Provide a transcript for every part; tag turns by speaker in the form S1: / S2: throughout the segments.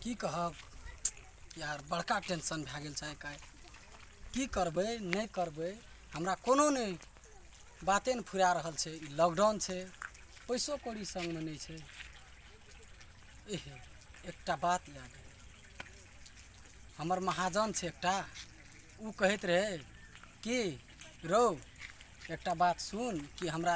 S1: की कहब यार बड़का टेंशन भए गेल छै एकाएक की करबै नहि करबै हमरा कोनो नहि बाते नहि फुरा रहल छै ई लॉकडाउन छै पैसो कौड़ी संगमे नहि छै एहे एकटा बात याद है हमर महाजन छै एकटा ओ कहैत रहै कि रौ एकटा बात सुन कि हमरा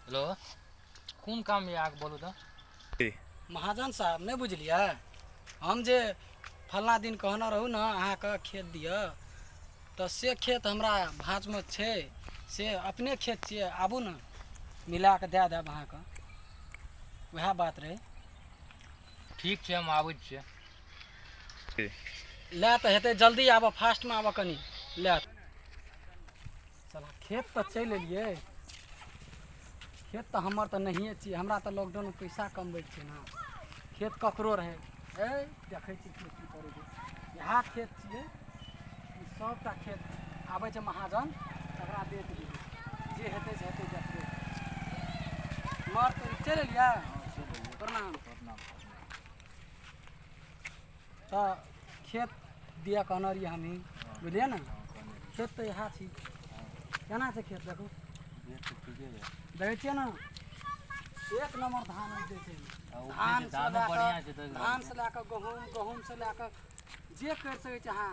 S1: हेलो कोन काम यऽ अहाँके बोलू तऽ महाजन साहब नहि बुझलियै हम जे फलना दिन कहने रहू ने अहाँके खेत दिअ तऽ से खेत हमरा भाँजमे छै से अपने खेत छियै आबू ने मिला कऽ दए देब अहाँके उएह बात रहै ठीक छै हम आबै छियै लए तऽ हेतै जल्दी आबऽ फास्टमे आबऽ कनि लए चला खेत तऽ चलि एलियै खेत तऽ हमर तऽ नहिए छियै हमरा तऽ लॉकडाउनमे पैसा कमबै छियै ने खेत ककरो रहै ए देखै छी खेत की करै छै इएह खेत छियै ई सभटा खेत आबै छै महाजन तकरा बेच दियै जे हेतै से हेतै देखबै मर तऽ चलि एलियै प्रणाम तऽ खेत दिया कहने रहियै हमही बुझलियै ने खेत तऽ इएह छी केना छै खेत देखू देखै छियै ने एक नंबर धान होइ छै धान से लए कऽ धान से लए कऽ गहूँम गहूँम से लए कऽ जे करि सकै छी अहाँ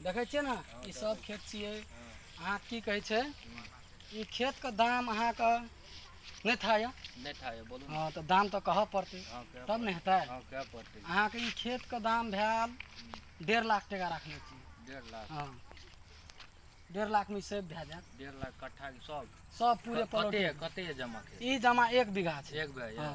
S1: देखै छियै ने ई सब खेत छियै अहाँ की कहै छै ई खेत के दाम अहाँके नहि था यऽ नहि था यऽ बोलू हँ तऽ दाम तऽ कहऽ पड़तै तब ने हेतै अहाँके ई खेत के दाम भेल डेढ़ लाख टका राखने छी डेढ़ लाख हँ डेढ़ लाख में सेव भए जाए डेढ़ लाख कट्ठा सब सब पूरे प्लॉट कते जमा ई जमा एक बीघा छै एक बीघा हाँ।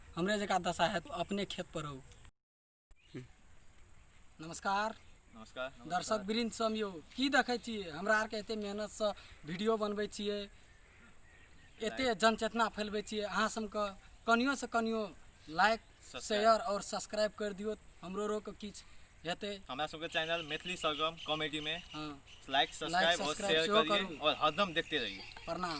S1: हमरे जका दशा है तो अपने खेत पर हो नमस्कार नमस्कार दर्शक वृंद सम यो की देखै छियै हमरा आरके एते मेहनतसँ वीडियो बनबै छियै एते जनचेतना फैलबै छियै अहाँ सबके कनियोसँ कनियो लाइक शेयर और सब्सक्राइब कर दियौ हमरो रोके किछु हेतै हमरा सबके चैनल मैथिली सरगम कॉमेडी में हँ लाइक सब्सक्राइब और subscribe शेयर सेहो करिए करू। और हरदम देखते रहिए प्रणाम